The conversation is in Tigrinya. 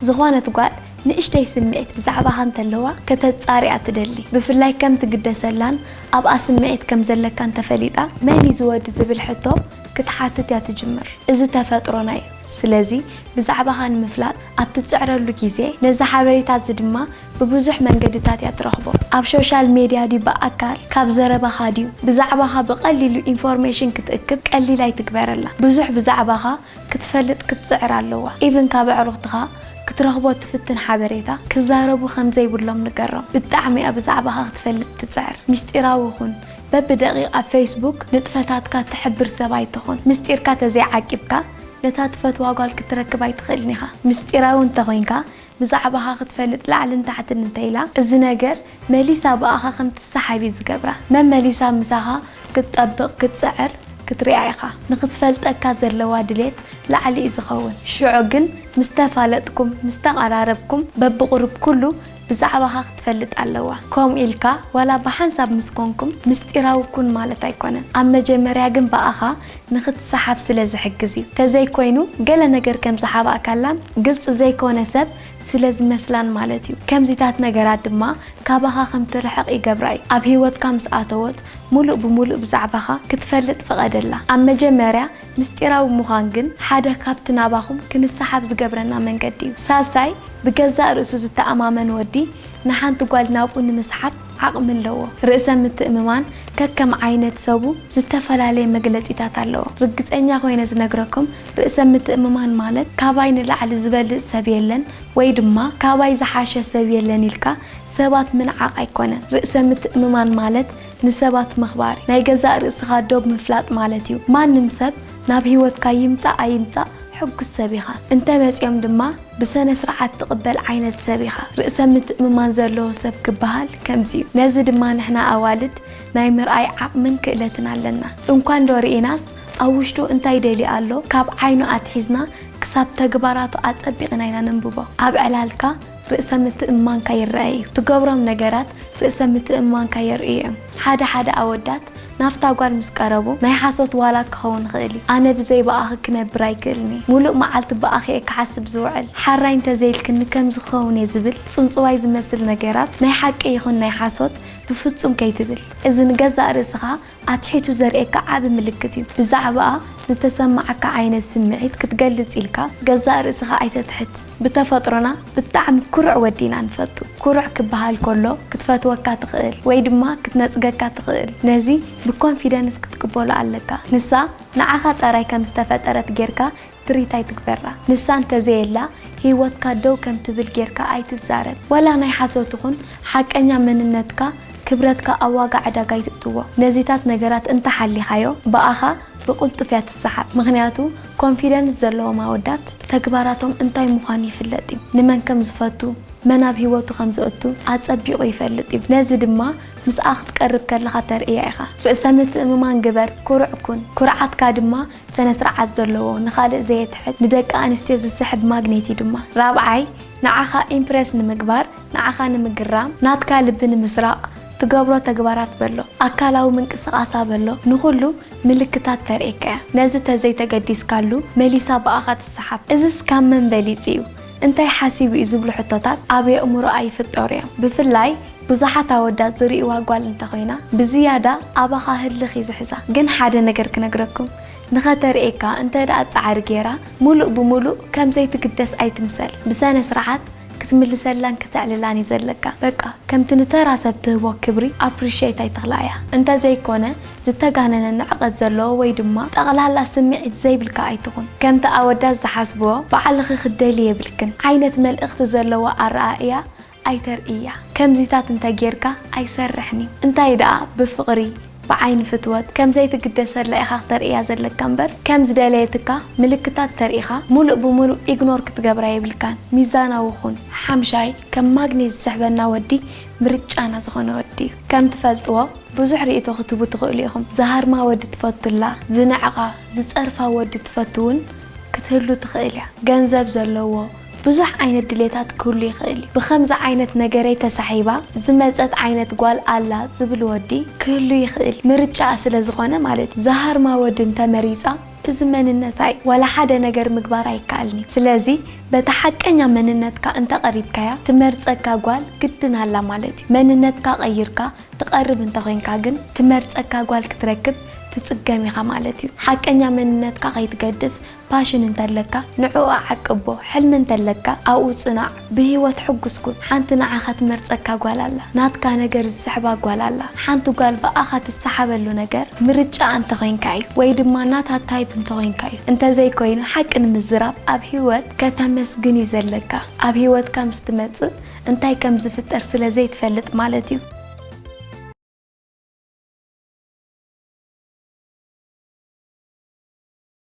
ዝኾነት ጓል ንእሽተይ ስምዒት ብዛዕባኻ እንተለዋ ከተጻሪ'ያ ትደሊ። ብፍላይ ከም ትግደሰላን ኣብኣ ስምዒት ከም ዘለካን ተፈሊጣ፣ መን'ዩ እዚ ወዲ ዝብል ሕቶ ክትሓትት'ያ ትጅምር። እዚ ተፈጥሮና'ዩ። ስለዚ ብዛዕባኻ ንምፍላጥ ኣብ ትጽዕረሉ ግዜ፣ ነዚ ሓበሬታ'ዚ ድማ ብብዙሕ መንገድታት'ያ ትረኽቦ። ኣብ ሾሻል ሜድያ ድዩ ብኣካል፣ ካብ ዘረባኻ ድዩ፣ ብዛዕባኻ ብቐሊሉ ኢንፎርሜሽን ክትእክብ ቀሊል ኣይትግበረላ። ብዙሕ ብዛዕባኻ ክትፈልጥ ክትጽዕር ኣለዋ ኢቭን ካብ ኣዕሩኽትኻ ክትረኽቦ ትፍትን ሓበሬታ ክዛረቡ ከም ዘይብሎም ንገሮም ብጣዕሚ እያ ብዛዕባኻ ክትፈልጥ ትጽዕር ምስጢራዊ ኩን በቢ ደቂቅ ኣብ ፈይስቡክ ንጥፈታትካ ትሕብር ሰብ ኣይትኹን ምስጢርካ ተዘይ ዓቂብካ ነታ ትፈትዋ ጓል ክትረክብ ኣይትኽእልን ኢኻ ምስጢራዊ እንተ ኮንካ ብዛዕባኻ ክትፈልጥ ላዕልን ታሕትን እንተኢላ እዚ ነገር መሊሳ ብኣኻ ከም ትሳሓብ እዩ ዝገብራ መመሊሳ ምሳኻ ክትጠብቕ ክትጽዕር ክትሪኣ ኢኻ ንኽትፈልጠካ ዘለዋ ድሌት ላዕሊ እዩ ዝኸውን ሽዑ ግን ምስ ተፋለጥኩም ምስ ተቐራረብኩም በብቑሩብ ኩሉ ብዛዕባኻ ክትፈልጥ ኣለዋ ከምኡ ኢልካ ዋላ ብሓንሳብ ምስ ኮንኩም ምስጢራዊ ኩን ማለት ኣይኮነን ኣብ መጀመርያ ግን ብኣኻ ንኽትሰሓብ ስለ ዝሕግዝ እዩ። ተዘይኮይኑ ገለ ነገር ከም ዝሓባእካላን ግልጺ ዘይኮነ ሰብ ስለ ዝመስላን ማለት እዩ። ከምዚታት ነገራት ድማ ካባኻ ከም ትርሕቕ ይገብራ እዩ። ኣብ ህይወትካ ምስ ኣተወት ምሉእ ብምሉእ ብዛዕባኻ ክትፈልጥ ፍቐደላ። ኣብ መጀመርያ ምስጢራዊ ምዃን ግን ሓደ ካብቲ ናባኹም ክንሰሓብ ዝገብረና መንገዲ እዩ። ሳልሳይ ብገዛእ ርእሱ ዝተኣማመን ወዲ ንሓንቲ ጓል ናብኡ ንምስሓብ ዓቕሚ ኣለዎ። ርእሰ ምትእምማን ከከም ዓይነት ሰቡ ዝተፈላለየ መግለጺታት ኣለዎ። ርግጸኛ ኮይነ ዝነግረኩም ርእሰ ምትእምማን ማለት ካባይ ንላዕሊ ዝበልጽ ሰብ የለን ወይ ድማ ካባይ ዝሓሸ ሰብ የለን ኢልካ ሰባት ምንዓቕ ኣይኮነን። ርእሰ ምትእምማን ማለት ንሰባት ምኽባር፣ ናይ ገዛእ ርእስኻ ዶብ ምፍላጥ ማለት እዩ። ማንም ሰብ ናብ ህይወትካ ይምጻእ ኣይምጻእ ሕጉስ ሰብ ኢኻ። እንተ መጺኦም ድማ። ብሰነስርዓት ትቕበል ዓይነት ሰብ ኢኻ። ርእሰ ምትእምማን ዘለዎ ሰብ ክበሃል ከምዚ'ዩ። ነዚ ድማ ንሕና ኣዋልድ ናይ ምርኣይ ዓቕምን ክእለትን ኣለና። እንኳንዶ ርኢናስ ኣብ ውሽጡ እንታይ ደልዩ ኣሎ ካብ ዓይኑ ኣትሒዝና ክሳብ ተግባራቱ ኣጸቢቕና ኢና ነንብቦ። ኣብ ዕላልካ ርእሰ ምትእምማንካ ይረኣ'ዩ። ትገብሮም ነገራት ርእሰ ምትእምማንካ የርእዩ'ዮም። ሓደ ሓደ ኣወዳት ናብታ ጓል ምስ ቀረቡ፣ ናይ ሓሶት ዋላ ክኸውን ይኽእል እዩ፣ ኣነ ብዘይ ብኣኺ ክነብር ኣይክእልን እየ፣ ምሉእ መዓልቲ ብኣኺ እየ ክሓስብ ዝውዕል፣ ሓራይ እንተዘይልክኒ ከምዚ ክኸውን እየ ዝብል ጽንጽዋይ ዝመስል ነገራት፣ ናይ ሓቂ ይኹን ናይ ሓሶት፣ ብፍጹም ከይትብል። እዚ ንገዛእ ርእስኻ ኣትሒቱ ዘርእየካ ዓቢ ምልክት እዩ። ብዛዕባኣ ዝተሰምዓካ ዓይነት ስምዒት ክትገልጽ ኢልካ ገዛእ ርእስኻ ኣይተትሕት። ብተፈጥሮና ብጣዕሚ ኩሩዕ ወዲ ኢና ንፈቱ። ኩሩዕ ክበሃል ከሎ ክትፈትወካ ትኽእል ወይ ድማ ክትነጽገካ ትኽእል። ነዚ ብኮንፊደንስ ክትቅበሎ ኣለካ። ንሳ ንዓኻ ጠራይ ከም ዝተፈጠረት ጌርካ ትሪት ኣይትግበራ። ንሳ እንተዘየላ ሂወትካ ደው ከም ትብል ጌርካ ኣይትዛረብ። ዋላ ናይ ሓሶት ይኹን ሓቀኛ መንነትካ ክብረትካ ኣብ ዋጋ ዕዳጋ ኣይትእትዎ። ነዚታት ነገራት እንተ ሓሊኻዮ ብኣኻ ብቁልጡፍ እያ ትሰሓብ ምክንያቱ ኮንፊደንስ ዘለዎም ኣወዳት ተግባራቶም እንታይ ምኳኑ ይፍለጥ እዩ ንመን ከም ዝፈቱ መን ኣብ ሂወቱ ከም ዘእቱ ኣጸቢቁ ይፈልጥ እዩ ነዚ ድማ ምስኣ ክትቀርብ ከለካ ተርእያ ኢካ ርእሰ ምትእምማን ግበር ኩሩዕ ኩን ኩርዓትካ ድማ ሰነ ስርዓት ዘለዎ ንካልእ ዘየትሕት ንደቂ ኣንስትዮ ዝስሕብ ማግኔት እዩ ድማ ራብዓይ ንዓካ ኢምፕረስ ንምግባር ንዓኻ ንምግራም፣ ናትካ ልቢ ንምስራቕ ትገብሮ ተግባራት በሎ፣ ኣካላዊ ምንቅስቓሳ በሎ ንኹሉ ምልክታት ተርእየካ እያ። ነዚ ተዘይ ተገዲስካሉ መሊሳ ብኣኻ ትሰሓብ። እዝስ ካብ መን በሊጹ እዩ? እንታይ ሓሲቡ እዩ? ዝብሉ ሕቶታት ኣብ የእምሮኣ ይፍጠሩ እዮም። ብፍላይ ብዙሓት ኣወዳት ዝርእይዋ ጓል እንተኾይና ብዝያዳ ኣባኻ ህልኽ እዩ ዝሕዛ። ግን ሓደ ነገር ክነግረኩም፣ ንኸተርእየካ እንተድኣ ጻዕሪ ገይራ፣ ምሉእ ብምሉእ ከም ዘይትግደስ ኣይትምሰል። ብሰነ-ስርዓት ክትምልሰላን ከተዕልላን እዩ ዘለካ በቃ ከምቲ ንተራ ሰብ ትህቦ ክብሪ ኣፕሪሸት ኣይተኽላኣያ እንተ ዘይኮነ ዝተጋነነ ንዕቀት ዘለዎ ወይ ድማ ጠቕላላ ስምዒት ዘይብልካ ኣይትኹን ከምቲ ኣወዳት ዝሓስብዎ ባዕልኺ ክትደልዪ የብልክን ዓይነት መልእኽቲ ዘለዎ ኣረኣእያ ኣይተርእያ ከምዚታት እንተ ጌርካ ኣይሰርሕን እዩ እንታይ ደኣ ብፍቕሪ ብዓይኒ ፍትወት ከም ዘይትግደሰላ ኢኻ ክተርእያ ዘለካ እምበር ከም ዝደለየትካ ምልክታት ተርኢኻ ሙሉእ ብሙሉእ ኢግኖር ክትገብራ የብልካን ሚዛናዊ ኩን። ሓምሻይ ከም ማግኔት ዝስሕበና ወዲ ምርጫና ዝኾነ ወዲ እዩ። ከም ትፈልጥዎ ብዙሕ ሪኢቶ ክትህቡ ትኽእሉ ኢኹም። ዝሃርማ ወዲ ትፈቱላ፣ ዝንዕቓ፣ ዝጸርፋ ወዲ ትፈቱ ውን ክትህሉ ትኽእል እያ። ገንዘብ ዘለዎ፣ ብዙሕ ዓይነት ድሌታት ክህሉ ይኽእል እዩ። ብኸምዚ ዓይነት ነገረይ ተሳሒባ ዝመጸት ዓይነት ጓል ኣላ ዝብል ወዲ ክህሉ ይኽእል፣ ምርጫኣ ስለ ዝኾነ ማለት እዩ። ዝሃርማ ወዲ እንተ መሪጻ እዚ መንነታ እዩ፣ ዋላ ሓደ ነገር ምግባር ኣይከኣልን እዩ። ስለዚ በታ ሓቀኛ መንነትካ እንተ ቀሪብካያ ትመርጸካ ጓል ግድን ኣላ ማለት እዩ። መንነትካ ቀይርካ ትቐርብ እንተ ኾይንካ ግን ትመርጸካ ጓል ክትረክብ ትጽገም ኢኻ ማለት እዩ። ሓቀኛ መንነትካ ከይትገድፍ ፓሽን እንተለካ ንዕኡ ኣዕቅቦ ሕልሚ እንተለካ ኣብኡ ጽናዕ ብሂወት ሕጉስ ኩን ሓንቲ ንዓኻ ትመርጸካ ጓል ኣላ ናትካ ነገር ዝስሕባ ጓል ኣላ ሓንቲ ጓል ብኣኻ ትሳሓበሉ ነገር ምርጫኣ እንተኮይንካ እዩ ወይ ድማ ናታ ታይፕ እንተኮይንካ እዩ እንተዘይ ኮይኑ ሓቂ ንምዝራብ ኣብ ሂወት ከተመስግን እዩ ዘለካ ኣብ ሂወትካ ምስ ትመጽእ እንታይ ከም ዝፍጠር ስለ ዘይትፈልጥ ማለት እዩ።